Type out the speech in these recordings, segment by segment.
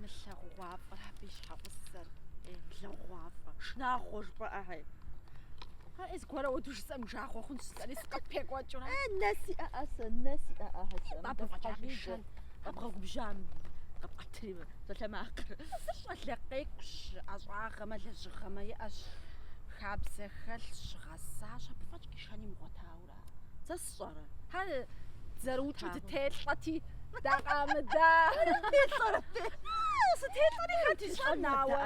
Мылъагъугъуафӏэр абы и щхьэгъусэр. Ей, мылъагъугъуафӏэ. Шынагъуэ жыпӏэӏэ, хьэй. Ай, зыгуэрэ хуэдэу жысӏэм жагъуэ хъунщ жысӏэри сыкъыпекӏуэкӏурэ. Э, нэ сиӏэӏэ сэ, нэ сиӏэӏэ сэ. Абы фӏэкӏа къишэн, къэбгъэгубжьам къэпӏэтри мы псалъэмакъыр. Щӏалэ къекӏущ, ӏэщӏагъэмэ, лэжьыгъэмэ иӏэщ, хабзэ хэлъщ, гъэсащ, абы фӏэкӏ къишэн имыгъуэтауэ. Сэ сщӏэрэ? Хьэ, зэрыукӏыу дытелӏэти, дакъамыда. Сытелӏэри хэт ищӏэнауэ?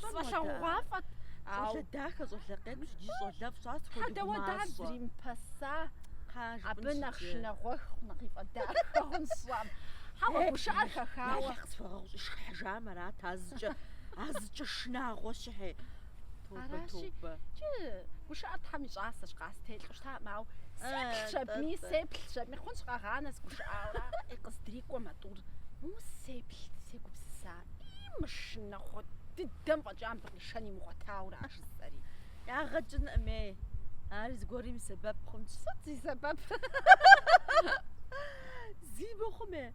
Сфӏэлъагъугъуафӏэт. Щӏалэ дахэ, щӏалэ къекӏущ, ди щӏалэфӏ щӏар схуэдэгу мащӏэ. Хьэдэ уэ дэ дримыпэса? Абы нэхъ шынагъуэху нэхъифӏэ дахэ хъун сщӏам. Хьэуэ, гушыӏэр хэхауэ. Нэхъ сфӏэгъэгъущӏи, шхыхьыжам арат, а зыкӏэ, а зыкӏэ шынагъуэ щыхьи. Аращи, кӏы, гушыӏэр Тхьэм и щӏасэщ, къастелӏу щытакъым, ауэ сеплъ щабми, сеплъ щабми, хъунщ къэгъанэ сыгушыӏауэ. Ӏи къыздырикӏуэм а тӏур усеплъ сегупсыса, ӏи мы шынагъуэ дыдэм фӏэкӏа мыбы къишэн имыгъуэтаура, жысӏэри. Ягъэ кӏынкъыми, ар зыгуэрым и сэбэп хъунщ. Сыт зи сэбэп? Зи мыхъуми.